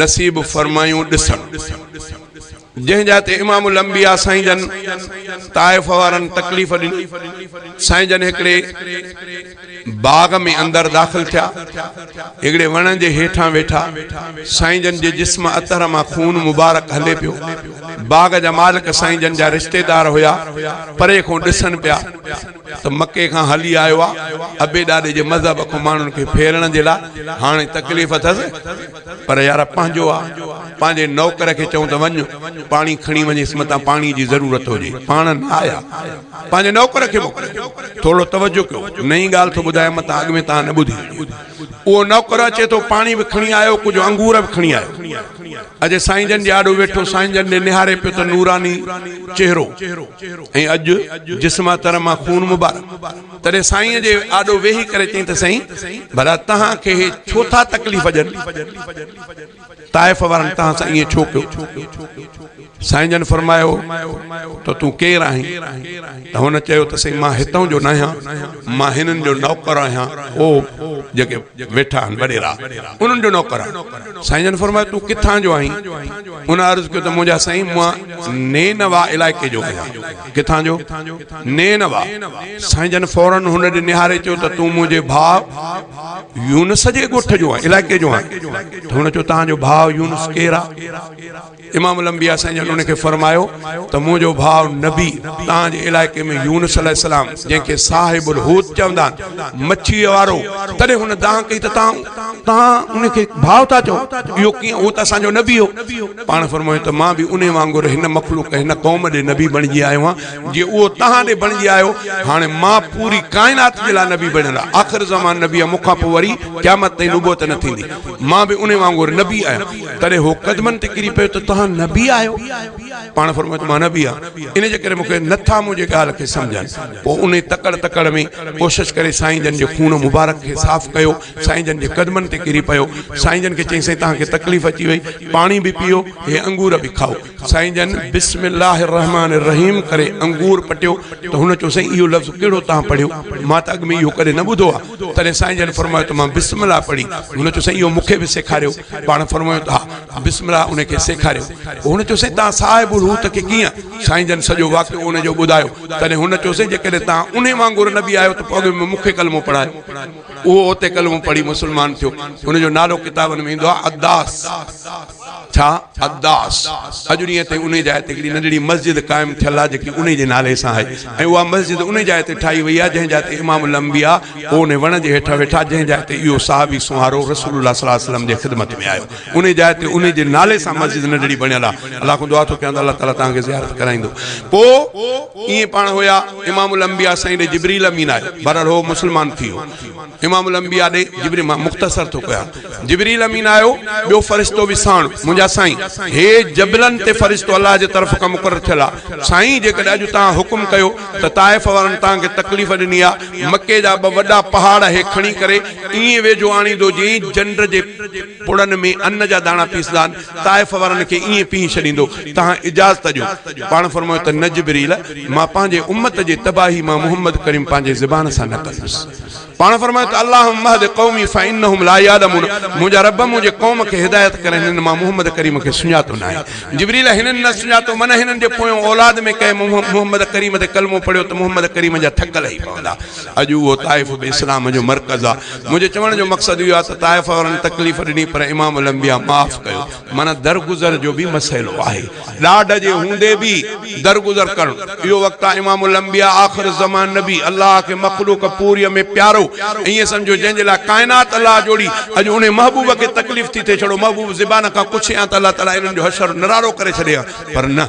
نصيب فرمايون ڏسڻ جنهن جا تي امام الانبياء سائين جن طائف وارن تڪليف ڏني سائين جن هڪڙي باغ ۾ اندر داخل ٿيا هڪڙي وڻ جي هيٺان ويٺا سائين جن جي جسم اطهر مان خون مبارڪ هلي پيو باغ جا مالڪ سائين جن جا رشتيدار هيا پري کون ڏسن پيا ته مڪي کان هلي آيو آ ابي ڏاڏي جي مذهب کون ماڻهن کي ڦيرڻ جي لاء هاڻي تڪليف اٿس پر يار پنهنجو آ پنهنجي نوڪر کي چئون ته وڃ پاڻي کڻي وڃيس متان پاڻي جي ضرورت هجي پاڻ نه آيا پنهنجي نوڪر کي موڪلي ٿورڙو توجه ڪيو نئين ڳالهه ٿو ٻڌايان متان اڳ ۾ تان نه ٻڌي هجي اهو نوڪر اچي ٿو پاڻي به کڻي آيو ڪجهه انگور به کڻي آيو اڄ سائين جن جي آڏو ويٺو سائين جن ڏي نهاري پيو ته نوراني چهرو ۽ اڄ جسما تر مان خون مبارڪ تڏهن سائين جي آڏو ويهي ڪري چيائين ته سائين ڀلا تهان کي هي ڇو ٿا تڪليف ڏين طائف وارن تهان سان ائين ڇو ڪيو سائين جن فرمايو ته تون ڪير آهين؟ ته هن چيو ته سائين مان هتان جو ناهيان، مان هنن جو نوڪر آهيان، او جيڪي ويٺا آهن وڏيرا، انهن جو نوڪر آهيان. سائين جن فرمايو تون ڪٿان جو آهين؟ ان عرض ڪيو ته منهنجا سائين مان نينوا علائقي جو آهيان. ڪٿان جو؟ نينوا. سائين جن فوراً هن ڏي نهاري چيو ته تون منهنجي ڀاء يونس جي ڳوٺ جو آهين، علائقي جو آهين. ته هن چيو تهان جو ڀاء يونس ڪير آهي؟ امام الانبياء سائين جن ان کي فرمايو ته منهنجو ڀاء نبي توهان جي علائقي ۾ يونس عليه السلام جنهن کي صاحب الحوت چوندا آهن مڇيء وارو تڏهن هن دانهن ڪئي ته توهان توهان ان کي ڀاء ٿا چئو اهو ڪيئن هو ته اسان جو نبي هو پاڻ فرمايو ته مان به انهي وانگر هن مخلوق هن قوم ڏي نبي بڻجي آيو آهيان جي اهو توهان ڏي بڻجي آيو هاڻي مان پوري ڪائنات جي لاء نبي بڻيل آهيان آخر زمان نبي آهيان مون کان پوء وري قيامت تائين نبوت نه ٿيندي مان به انهي وانگر نبي آهيان تڏهن هو قدمن تي ڪري پيو ته توهان نبي آهيو؟ پاڻ فرمايو ته مان نبي آهيان، ان جي ڪري مون کي نه ٿا منهنجي ڳالهه کي سمجهن. پوء انهي تڪڙ تڪڙ ۾ ڪوشش ڪري سائين جن جي خون مبارڪ کي صاف ڪيو، سائين جن جي قدمن تي ڪري پيو، سائين جن کي چيائين سائين توهان کي تڪليف اچي وئي، پاڻي به پيئو، هي انگور به کائو. سائين جن بسم الله الرحمٰن الرحيم ڪري انگور پٽيو ته هن چيو سائين اهو لفظ ڪهڙو توهان پڙهيو مان ته اڳ ۾ اهو ڪڏهن نه ٻڌو آهي تڏهن سائين جن فرمايو ته مان بسم الله پڙهي هن چيو سائين اهو مون کي به سيکاريو پاڻ فرمايو ته ها بسم الله ان کي سيکاريو پوء هن چيو سائين توهان صاحب الحوت کي ڪيئن سائين جن سڄو واقعو ان جو ٻڌايو تڏهن هن چيو سائين جيڪڏهن توهان انهي وانگر نبي آهيو ته پوء اڳ ۾ مون کي ڪلمو پڙهايو اهو اتي ڪلمو پڙهي مسلمان ٿيو هن جو نالو ڪتابن ۾ ايندو آهي اداس ڇا اداس اڄ ڏينهن تائين انهي جاء تي هڪڙي ننڍڙي مسجد قائم ٿيل آهي جيڪي انهي جي نالي سان آهي ۽ اها مسجد انهي جاء تي ٺاهي وئي آهي جنهن جاء تي امام الانبياء پوء انهي وڻ جي هيٺ ويٺا جنهن جاء تي اهو صحابي سونهارو رسول الله صلي الله عليه وسلم جي خدمت ۾ آيو انهي جاء تي انهي جي نالي سان مسجد ننڍڙي بڻيل آهي الله کان دعا ٿو ڪيان ته الله تعالي توهان کي زيارت ڪرائيندو پوء ائين پاڻ هيا امام الانبياء سائين ڏي جبريل امين آيو بهرحال هو مسلمان ٿي ويو امام الانبياء ڏي جبريل مان مختصر ٿو ڪيان جبريل امين آيو ٻيو فرشتو به ساڻ منهنجا سائين هي جبلن تي فرشتو الله جي طرف کان مقرر ٿيل آ سائين جيڪڏهن اڄ توهان حڪم ڪيو ته طائف وارن توهان کي تڪليف ڏني آ مڪي جا ٻه وڏا پهاڙ هي کڻي ڪري ائين ويجهو آڻيندو جئين جنڊ جي پڙن ۾ ان جا داڻا پيسدا آهن طائف وارن کي ائين پنهي ڇڏيندو، تهان اجازت ڏيو. پاڻ فرمايو ته نه جبريل! مان پنهنجي امت جي تباهي مان محمد ڪريم پنهنجي زبان سان نه ڪندس. پاڻ فرمايو ته اللهم اهد قومي فانهم لا يعلمون منهنجا رب منهنجي قوم کي هدايت ڪر هنن مان محمد ڪريم کي سڃاتو ناهي. جبريل هنن نه سڃاتو من هنن جي پويون اولاد ۾ ڪنهن محمد ڪريم تي ڪلمو پڙهيو ته محمد ڪريم جا ٿڪ لهي پوندا. اڄ اهو طائف به اسلام جو مرڪز آ. منهنجي چوڻ جو مقصد اهو آ ته طائف وارن تڪليف ڏني پر امام الانبياء معاف ڪيو. معنيٰ درگذر جو به مسئلو آهي. ڏاڍ جي هوندي به درگذر ڪرڻ اهو وقت آ. امام الانبياء آخر الزمان نبي الله کي مخلوق پوريء ۾ پيارو ائين سمجهيو جنهن جي لاء ڪائنات الله جوڙي. اڄ انهي محبوب کي تڪليف ٿي ٿئي. ڇڙو محبوب زبان کان ڪڇي هان ته الله تعاليٰ انهن جو حشر نرارو ڪري ڇڏي هان پر نه.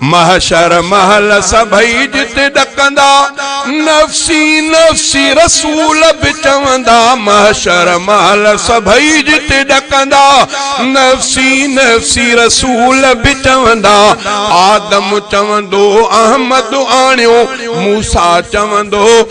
محشر مهل سڀئي جتي ڏڪندا، نفسي نفسي رسول به چوندا. محشر مهل سڀئي جتي ڏڪندا، نفسي نفسي رسول به چوندا. آدم چوندو احمد آڻيو، موسيٰ چوندو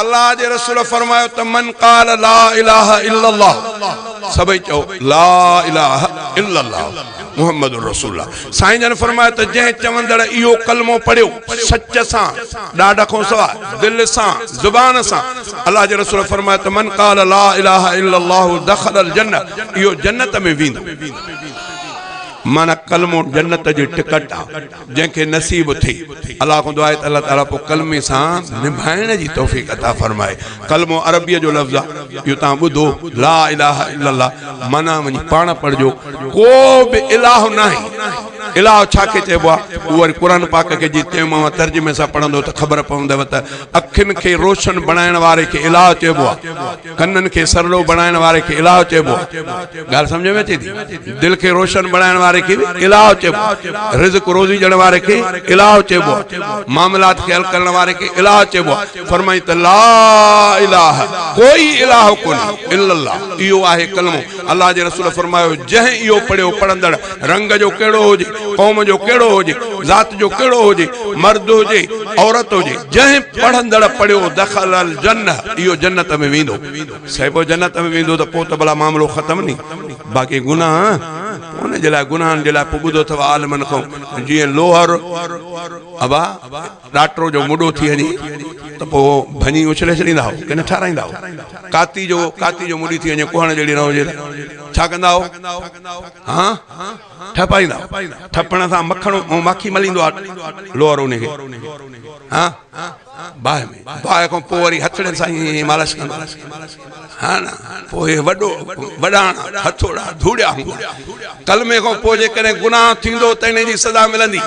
الله جي رسول فرمايو ته من قال لا اله الا الله سڀئي چئو لا اله الا الله محمد رسول الله سائين جن فرمايو ته جنهن چوندڙ اهو ڪلمو پڙهيو سچ سان ڏاڍ کان سوا دل سان زبان سان الله جي رسول فرمايو ته من قال لا اله الا الله دخل الجنه اهو جنت ۾ ويندو معنی ڪلمو جنت جي ٽڪٽ آ جنهن کي نصيب ٿئي الله کان دعا آهي ته الله تعالي پوء ڪلمي سان نڀائڻ جي توفيق عطا فرمائي ڪلمو عربيء جو لفظ آ اهو توهان ٻڌو لا اله الا الله معنيٰ وڃي پاڻ پڙهجو ڪو به الاهه ناهي الاهه ڇا کي چئبو آ اهو وري قرآن پاڪ کي جي تيمم ۽ ترجمي سان پڙهندو ته خبر پوندؤ ته اکين کي روشن بڻائڻ واري کي الاهه چئبو آ ڪنن کي سرلو بڻائڻ واري کي الهه چئبو آهي ڳالهه سمجهه ۾ اچي ٿي دل کي روشن بڻائڻ واري کي به الهه چئبو آهي رزق روزي ڏيڻ واري کي الهه چئبو آهي معاملات کي حل ڪرڻ واري کي الهه چئبو آهي فرمائي ته لا الهه ڪوئي الهه ڪونهي الا الله اهو آهي ڪلمو الله جي رسول فرمايو جنهن اهو پڙهيو پڙهندڙ رنگ جو ڪهڙو هجي، قوم جو ڪهڙو هجي، ذات جو ڪهڙو هجي، مرد هجي، عورت هجي، جنهن پڙهندڙ پڙهيو دخل الجنه اهو جنت ۾ ويندو. صيبو جنت ۾ ويندو ته پوء ته ڀلا معاملو ختم ني. باقي گناهه، پوء ان جي لاء گناهن جي لاء پوء ٻڌو اٿئو عالمن کان جيئن لوهر ابا. ڏاٽرو جو مڏو ٿي وڃي ته پوء ڀڃي اڇلي ڇڏيندا هئو ڪنه ٺارائيندا هئو؟ ڪاتي جو ڪاتي جو مڏي ٿي وڃي ڪوهڻ جهڙي نه هجي ته ڇا ڪندا هئو؟ هان؟ ٺپائيندا هئو. ٺپڻ سان مکڻ ۽ ماکي مليندو آ لوهر ان کي. هان؟ باهه ۾ باهه کان پوء وري هٿڙين سان ائين مالش ڪندو هو. هان؟ پوء اهي وڏو وڏاڻا هٿوڙا ڌوڙيا هوندا. ڪلمي کان پوء جيڪڏهن گناهه ٿيندو ته ان جي سزا ملندي.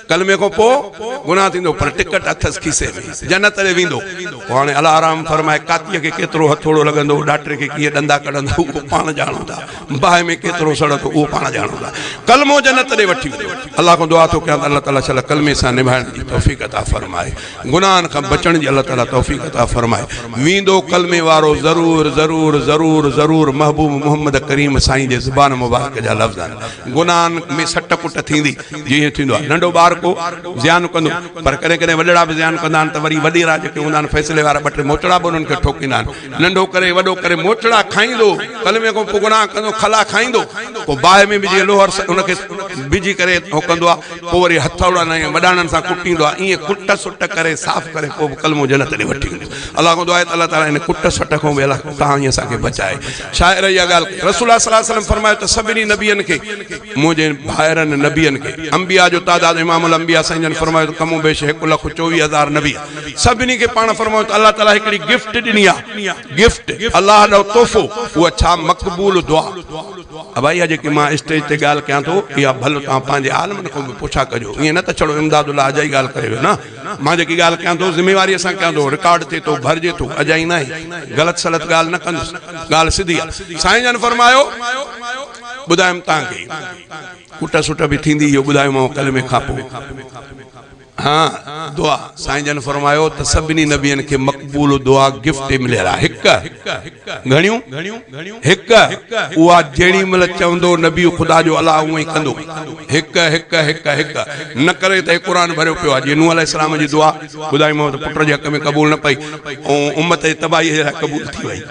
ڪلمي کان پوء گناھ ٿيندو پر ٽڪٽ اٿس کيسي ۾، جنت ڏي ويندو. پوء هاڻي الله آرام فرمائي، ڪاتيء کي ڪيترو هٿوڙو لڳندو، ڏاٽري کي ڪيئن ڏندا ڪڍندا، اهو پاڻ ڄاڻو ٿا. باهه ۾ ڪيترو سڙ اٿو، اهو پاڻ ڄاڻو ٿا. ڪلمو جنت ڏي وٺي ويندو. الله کان دعا ٿو ڪيان ته الله تعاليٰ صلي ڪلمي سان نڀائڻ جي توفيق عطا فرمائي. گناهن کان بچڻ جي الله تعاليٰ توفيق عطا فرمائي. ويندو ڪلمي وارو ضرور ضرور ضرور ضرور محبوب محمد ڪريم سائين جي زبان مبارڪ جا لفظ آهن. گناهن ۾ سٽ ڪٽ ٿيندي. جيئن ائين ٿيندو آهي ننڍو ٻار ڪو زيان ڪندو پر ڪڏهن ڪڏهن وڏڙا به زيان ڪندا آهن ته وري وڏيرا جيڪي هوندا آهن فيصلي وارا ٻه ٽي موچڙا به انهن کي ٺوڪيندا آهن ننڍو ڪري وڏو ڪري موچڙا کائيندو ڪلمي کان پوء گناهه ڪندو کلا کائيندو پوء باهه ۾ وجهي لوهر ان کي وجهي ڪري اهو ڪندو آهي پوء وري هٿوڙن ۽ وڏاڻن سان ڪٽيندو آهي ائين ڪٽ سٽ ڪري صاف ڪري پوء به ڪلمو جنت ڏي وٺي ويندو الله کان دعا آهي ته الله تعالي ان ڪٽ سٽ کان به الله توهان ۽ اسان کي بچائي شاعر اها ڳالهه ڪئي رسول الله صلي الله عليه وسلم فرمايو ته سڀني نبين کي منهنجي ڀائرن نبين کي، انبياء جو تعداد امام الانبياء سائين جن فرمايو ته ڪم و بيش هڪ لک چوويهه هزار نبي سڀني کي پاڻ فرمايو ته الله تعاليٰ هڪڙي گفٽ ڏني آهي گفٽ الله ڏانهن تحفو اها ڇا مقبول دعا ابائي اها جيڪي مان اسٽيج تي ڳالهه ڪيان ٿو اها ڀل توهان پنهنجي عالمن کان به پڇا ڪجو ايئن نه ته ڇڙو امداد الله اجائي ڳالهه ڪري ويو نه مان جيڪي ڳالهه ڪيان ٿو ذميواريء سان ڪيان ٿو رڪارڊ ٿئي ٿو ڀرجي ٿو اجائي ناهي غلط سلط ڳالهه نه ڪندس ڳالهه سڌي آهي سائين جن فرمايو ٻڌايم تان کي ڪٽ سٽ به ٿيندي اهو ٻڌايومانو ڪلمي کانپو ها دعا سائين جن فرمايو ته سڀني نبين کي مقبول دعا گفٽ مليل آهي هڪ گهڻيون هڪ اها جهڙي مل چوندو نبي خدا جو الله اهو ئي ڪندو هڪ هڪ هڪ هڪ نه ڪري ته قرآن ڀريو پيو آهي جي نوح عليه السلام جي دعا ٻڌايومانو ته پٽ جي حق ۾ قبول نه پئي ۽ امت جي تباهي جي لاء قبول ٿي وئي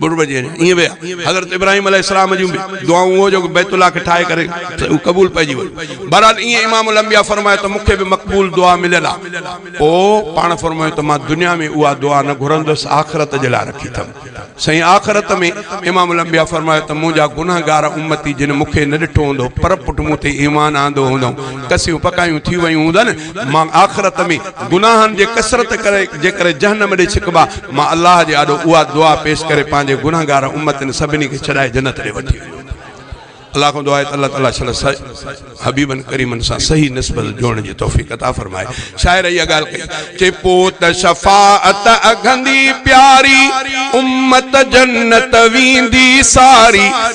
ٻه روپيه ڏينء ائين ويا حضرت ابراهيم عليه السلام جون به دعائون اهو جو بيت الله کي ٺاهي ڪري اهو قبول پئجي ويو بهرحال ائين امام الانبياء فرمايو ته مون کي به مقبول دعا مليل آهي پوء پاڻ فرمايو ته مان دنيا ۾ اها دعا نه گهرندس آخرت جي لاء رکي اٿم سائين آخرت ۾ امام الانبياء فرمايو ته منهنجا گنهگار امتي جن مون کي نه ڏٺو هوندو پر پٽ مون تي ايمان آندو هوندئون ڪسيون پڪايون ٿي ويون هوندن مان آخرت ۾ گناهن جي ڪثرت ڪري جيڪڏهن جهنم ڏي ڇڪبا، مان الله جي آڏو اها دعا پيش ڪري پنهنجي گنهگار امتن سڀني کي ڇڏائي جنت ڏي وٺي وڃو ٿو. الله کان دعا آهي ته الله تعاليٰ صلي الله عليه وسلم حبيبن ڪريمن سان صحيح نسبت جوڙڻ جي توفيق عطا فرمائي. شاعر اها ڳالهه ڪئي. چي پوت شفاعت اگهندي پياري، امت جنت ويندي ساري.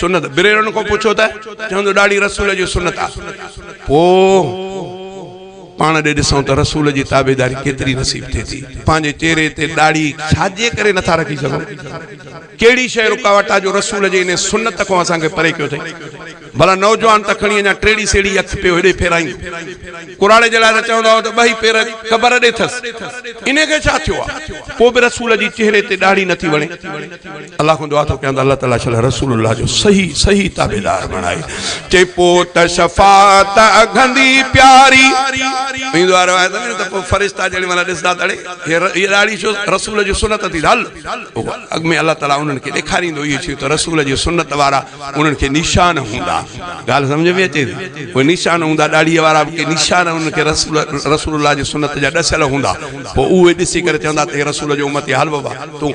سنت بريرن کان پڇو ته چوندو ڏاڙهي رسول جي سنت آ پو پاڻ ڏي ڏسون ته رسول جي تابعداري ڪيتري نصيب ٿئي ٿي پنهنجي چهري تي ڏاڙهي ڇاجي ڪري نه ٿا رکي سگهون ڪهڙي شيء رڪاوٽ آ جو رسول جي انهي سنت کان اسان کي پري ڪيو ٿئي ڀلا نوجوان ته کڻي اڃا ٽيڙي سيڙي اک پيو هيڏي ڦيرائين ڪراڙي جي لاء ته چوندا هئا ته ٻئي پير قبر ڏي ٿس انهي کي ڇا ٿيو آ پو به رسول جي چهري تي ڏاڙهي نه ٿي وڻي الله کان دعا ٿو ڪيان ته الله تعالي صلي عليٰ رسول الله جو صحيح صحيح تابعدار بڻائي چئي پوت شفاعت اگهندي پياري ايندو آ روايت ۾ ته پوء فرشتا جيڏي مهل ڏسدا ته اڙي هي راڙي شو رسول جي سنت ٿي هل اڳ ۾ الله تعالي انهن کي ڏيکاريندو اهي شيون ته رسول جي سنت وارا انهن کي نشان هوندا ڳالهه سمجهه ۾ اچي ٿي اهي نشان هوندا ڏاڙهي وارا به ڪي نشان انهن کي رسول رسول الله جي سنت جا ڏسيل هوندا پوء اهي ڏسي ڪري چوندا ته هي رسول جو امتي هل بابا تون